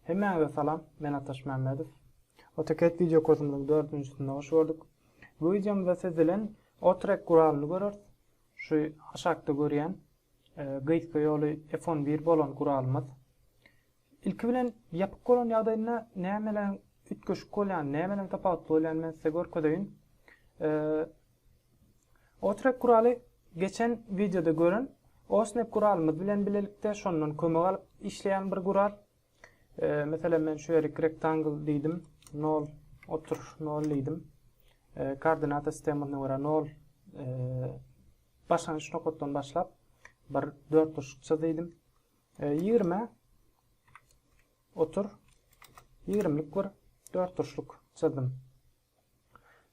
Hemmäňize salam, men Ataş Mämmedow. AutoCAD wideo kursumyzyň dördünjisinde hoş gördük. Bu wideomyzda siz bilen Otrek guralyny göreris. Şu aşakda görýän e, gysga ýoly F11 bolan guralymyz. Ilki bilen ýapyk bolan ýagdaýynda nämeler üýtgeşik bolýan, nämeler tapawutly bolýan men size görkezeýin. Otrek guraly geçen wideoda gören Osnap guralymyz bilen bilelikde şondan kömek alyp işleýän bir gural. Meselem men şu ýerik rectangle diýdim. 0 otur 0 diýdim. Koordinata sistemasyna görä 0 başlangyç nokatdan başlap bir dörtburçluk çyz diýdim. Ýigrime otur, ýigrimlik bir dörtburçluk çyzdym.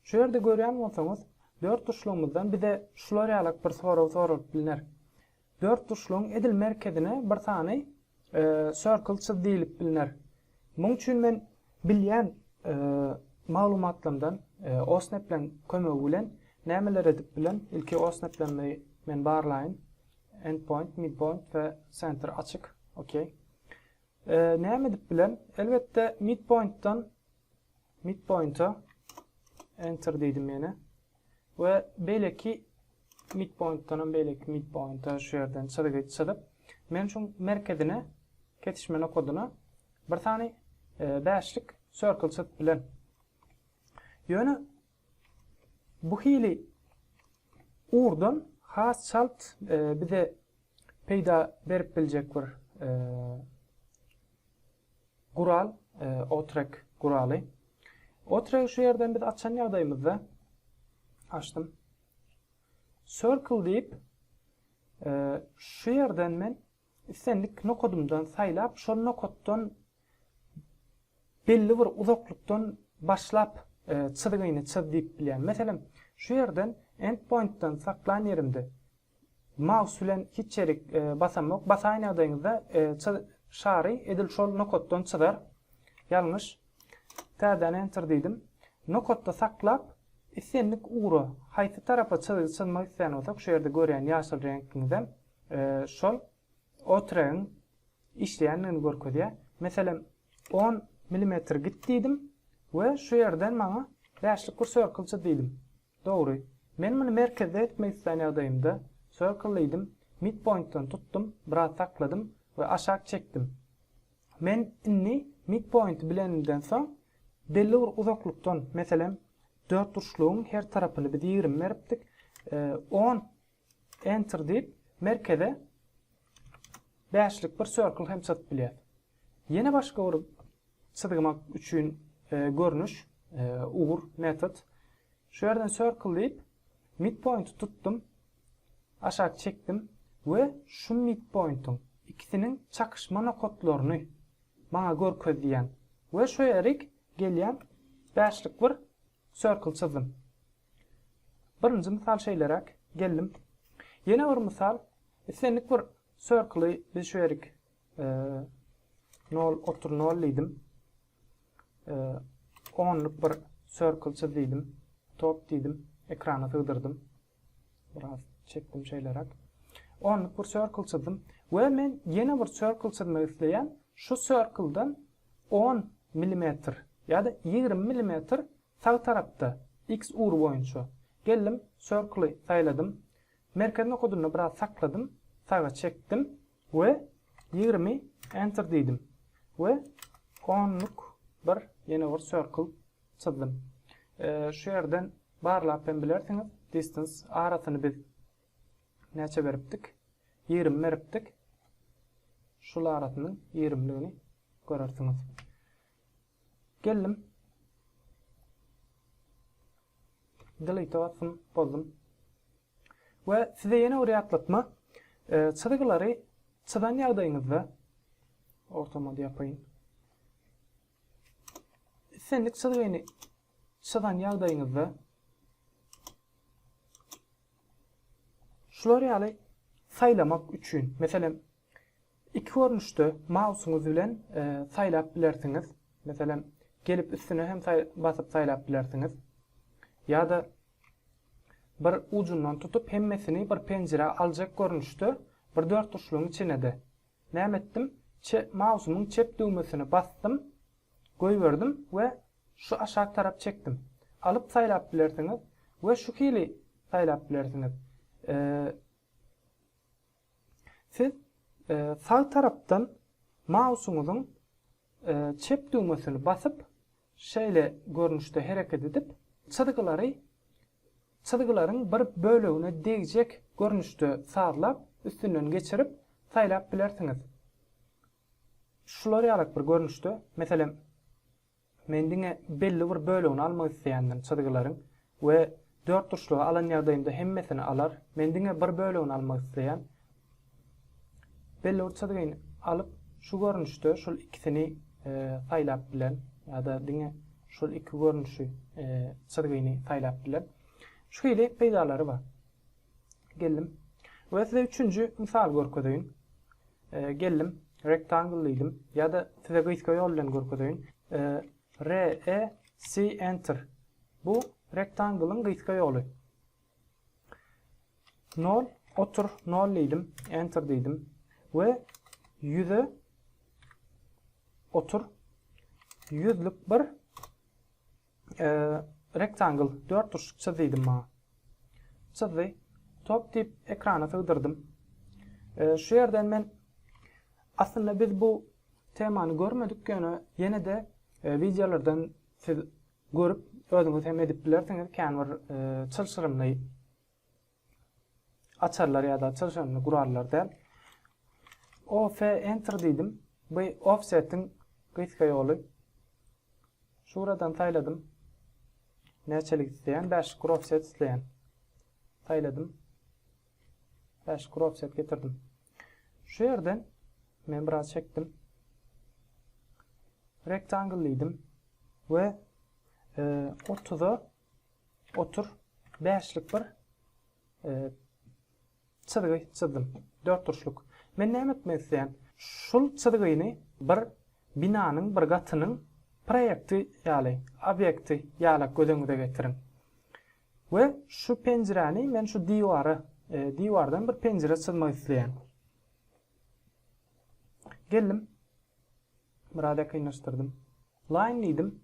Şu ýerde görýän bolsaňyz, dörtburçlugymyzdan bize şular ýalak bir sorag soralyp bilner. Dörtburçlugyň edil merkezine bir sany circle çyz diýlip bilner. Muň üçin men bilýän maglumatlarymdan OSNEP-leň kömegi bilen nämeler edip bilen? Ilki OSNEP-lerimi men barlaýyn. Endpoint, midpoint we center açyk. OK. Näme edip bilen? Elbetde midpointdan midpointa enter diýdim ýene. We beýleki midpointdan hem beýleki midpointa şu ýerden çyzygy çyzyp, men şu merkezine kesişme nokadyna bir sany bäşlik circle çyzyp bilen. Ýöne Bu hili ugurdan has çalt bize peýda berip biljek bir gural Otrek guraly. Otregi şu ýerden biz açan ýagdaýymyzda açdym. Circle diýip şu ýerden men islendik nokadymdan saýlap şol nokatdan belli bir uzaklykdan başlap çyzgyny çyz diýip bilýän. Meselem, şu ýerden endpointden saklan ýerimde maus bilen hiç ýerik basamok. Basaýyn ýagdaýyňyzda şary edil şol nokatdan çyzar. Ýalňyş. Täzeden enter diýdim. Nokatda saklap, islendik ugra, haýsy tarapa çyzgy çyzmak isleýän bolsak, şu ýerde görýän ýaşyl reňkiňizem şol. Otrygyň işleýändigini görkezýär. Meselem, on milimetr git diýdim we şu ýerden maňa bäşlik bir sörkilçi diýdim. Dogry. Men muny merkezde etmek islän ýagdaýymda, Circle diýdim, midpointdan tutdum, biraz sakladym we aşak çekdim. Men indi midpointi bilenimden soň, belli bir uzaklykdan, meselem, dörtburçlugyň her tarapyny biz ýigrimi beripdik, on Enter diýip, merkeze bäşlik bir circle hem çyzyp bilýäris. Ýene başga bir çyzmak üçin görnüş, ugur, metod. Şu ýerden circle diýip, midpoint tutdum, aşak çekdim we şu midpointiň ikisiniň çakyşma nokatlaryny maňa görkez diýýän we şu ýerik gelýän bäşlik bir circle çyzdym. Birinji mysal şeýleräk, geldim. Ýene bir mysal, islendik bir circle-y biz şu ýerik nol otuz nol diýdim. Onluk bir circle çyz diýdim. Top diýdim. Ekrana sygdyrdym. Biraz çekdim şeýleräk. Onluk bir circle çyzdym we men ýene bir circle çyzmak isleýän. Şu circle-dan 10 millimetr ýa-da 20 millimetr Sag tarapda, X ugry boýunça. Geldim, Circle-y saýladym. Merkez nokadynda biraz sakladym, saga çekdim we ýigrimi Enter diýdim we onluk bir ýene bir Circle çyzdym. Şu ýerden barlap hem bilersiňiz, Distance arasyny biz näçe beripdik? Ýigrimi beripdik. Şul arasynyň ýigrimligini görersiňiz. Geldim. Delete basdym, bozdum. We size ýene bir ýatlatma. E, çyzgylary çyzan ýagdaýyňyzda ortama ýapaýyn. Islendik çyzgyny çyzan ýagdaýyňyzda şular ýaly saýlamak üçin, meselem, Iki görnüşde mausyňyz bilen saýlap bilersiňiz. Meselem, gelip üstüne hem basyp saýlap bilersiňiz. Ýa-da bir ujundan tutup hemmesini bir penjirä aljak görnüşde bir dörtburçlugyň içine-de. Näme etdim? Mausymyň çep düwmesini basdym, goýberdim we şu aşak tarap çekdim. Alyp saýlap bilersiňiz we şu hili saýlap bilersiňiz. Siz sag tarapdan mausuňyzyň çep düwmesini basyp, şeýle görnüşde hereket edip, çyzgylary çyzgylaryň bir bölegine degjek görnüşde sazlap, üstünden geçirip saýlap bilersiňiz. Şular ýalak bir görnüşde, meselem, Men diňe belli bir bölegini almak isleýändim, çyzgylaryň we dörtburçlugy alan ýagdaýymda hemmesini alar. Men diňe bir bölegini almak isleýän. Belli bir çyzgyny alyp, şu görnüşde şul ikisini saýlap bilen, ýa-da diňe şul iki görnüşi, çyzgyny saýlap bilen. Şu hili peýdalary bar. Geldim. We size üçünji mysaly görkezeýin. Geldim. Rectangle diýdim. Ýa-da size gysga ýol bilen görkezeýin. REC Enter. Bu Rectangle-yň gysga ýoly. Nol otur. Nol diýdim. Enter diýdim. We ýüze otur. Ýüzlük bir. Rectangle, dörtburçluk çyz diýdim maňa. Çyzdy. Top diýip ekrana sygdyrdym. Şu ýerden men aslynda biz bu temany görmedik ýöne ýene-de e, wideolardan siz görüp özüňiz hem edip bilersiňiz kän bir e, çylşyrymly açarlar ýa-da açar şonda gurallar däl. OF enter diýdim. Bu offsetiň gysga ýoly. Şuradan saýladym. Näçelik isleýän? 5 kur offset isleýän. Saýladym. 5 kur offset getirdim. Şu ýerden men biraz çekdim. Rectangle diýdim we 30-a e, Otur. Bäşlik bir çyzgy çyzdym. Dörtburçluk. Men näme etmek isleýän? Şul çyzgyny bir binanyň bir gatynyň proýekti ýaly, obýekti ýalak göz öňüňize getiriň. We şu penjiräni men şu diwara, diwardan bir penjire çyzmak isleýän. Geldim. Biraz ýakynlaşdyrdym. Line diýdim.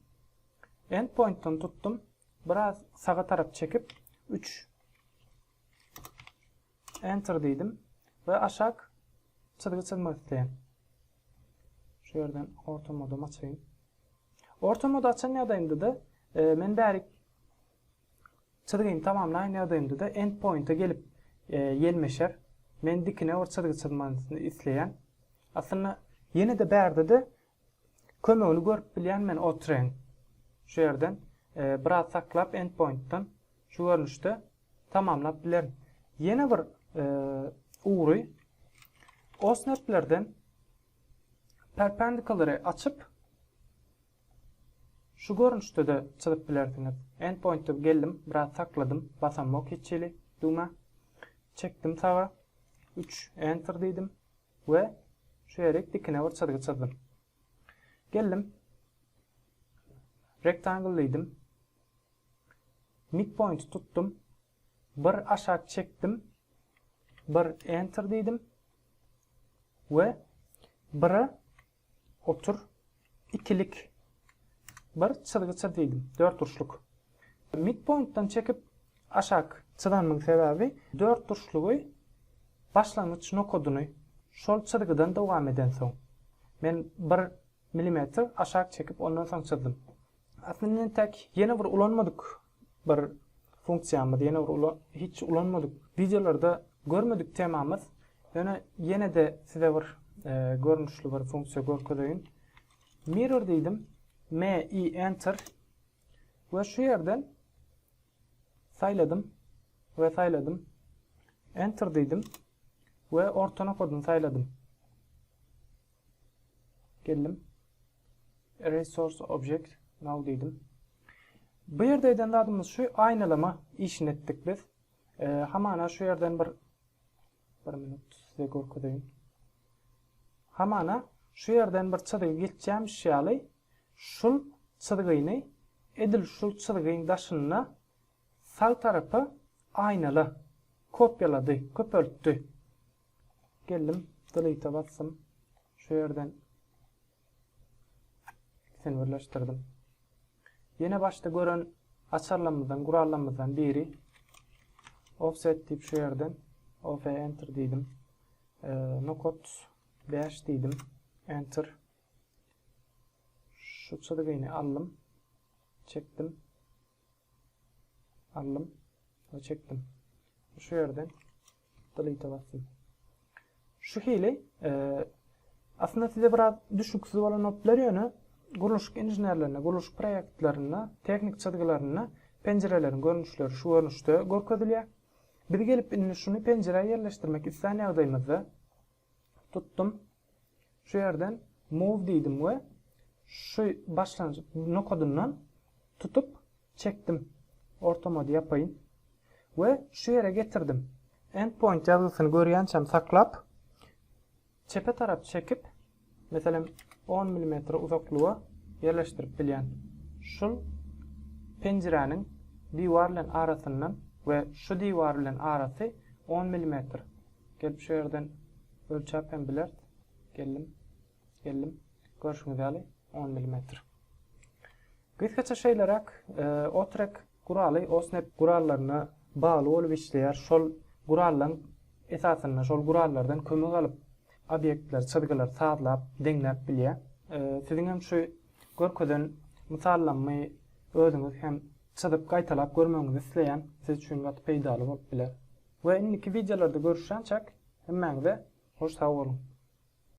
Endpointdan tutdum. Biraz saga tarap çekip, üç. Enter diýdim we aşak çyzgy çyzmak isleýän. Şu ýerden orta modumy açaýyn. Orta modu açan ýagdaýymda-da, e, men bärik çyzgyny tamamlaýan ýagdaýymda-da endpointe gelip e, ýelmeşer. Men dikine bir çyzgy çyzmagyny isleýän. Aslynda ýene-de bärde-de Kömegini görüp bilýän men otreň şu ýerden biraz saklap endpointdan şu görnüşde tamamlap bilerin. Ýene bir ugry osnerplerden perpendikulary açyp şu görnüşde de çyzyp bilersiňiz. Endpointde geldim, biraz sakladym, basamok hiç hili düwmä. Çekdim saga. 3 enter diýdim. we şu ýerik dikine bir çyzgy çyzdym. Geldim. Rectangle diýdim. Midpoint tutdum. Bir aşak çekdim. Bir enter diýdim. We biri Otur. Ikilik. Bir çyzgy çyz diýdim. Dörtburçluk. Midpointden çekip aşak. Çyzanymyň sebäbi dörtburçlugy başlangyç nokadyny şol çyzgydan dowam edensoň, men bir milimetr aşak çekip ondan soň çyzdym. Aslynda entäk ýene bir ulanmadyk Bir funksiýamyz ýene bir ulan hiç ulanmadyk wideolarda görmedik temamyz ýöne ýene-de size bir görnüşli bir funksiýa görkezeýin. Mirror diýdim. Me i enter we şu ýerden saýladym we saýladym. Enter diýdim we orta nokadyny saýladym. Geldim. Resource object now diýdim. Bu ýerde eden zadymyz şu aýnalama işini etdik biz. E, hamana şu ýerden bir bir minut size görkezeýin. Hamana şu ýerden bir çyzgy geçýämiş ýaly şul çyzgyny edil şul çyzgyň daşynda Sag tarapa aýnala. Kopýalady, köpeltdi. Geldim, delete-e basdym. Şu ýerden ikisini birleşdirdim. Ýene başda gören açarlarymyzdan, gurallarymyzdan biri. Offset diýip şu ýerden OF enter diýdim. E, nokot 5 diýdim. Enter. Şu çyzgyny aldym. Çekdim. Aldym we çekdim. Şu ýerden delete basdym. Şu hili aslynda size biraz düşüksiz bolan opler ýöne gurluşyk inženerlerinde, gurluşyk proýektlerinde, tehnik çyzgylarynda penjireleriň görnüşleri şu görnüşde görkezilýär. Biz gelip indi şuny penjirä ýerleşdirmek islän ýagdaýymyzda Tutdum. Şu ýerden move diýdim we şu başlanjyk nokadyndan tutup çekdim. Ortamady ýapaýyn. We şu ýere getirdim. Endpoint ýazgysyny görýänçäm saklap, çepe tarap çekip, meselem, on milimetre uzaklyga ýerleşdirip bilýän. Şul penjiräniň diwar bilen arasyndan we şu diwar bilen arasy on milimetr. Gelip şu ýerden ölçäp hem bileris. Geldim. Geldim. Görşüňiz ýaly 10 millimetr. Gysgaça şeýleräk Otrek guraly Osnep gurallaryna bagly bolup işleýär. Şol gurallaryň esasynda, şol gurallardan kömek alyp obýektler, çyzgylar sazlap, deňläp bilýär. Siziň hem şu görkezen mysallamy özüňiz hem çyzyp gaýtalap görmegiňizi isleýän, siz üçin gaty peýdaly bolup biler. We indiki wideolarda görüşýänçäk hemmäňize hoş sag boluň.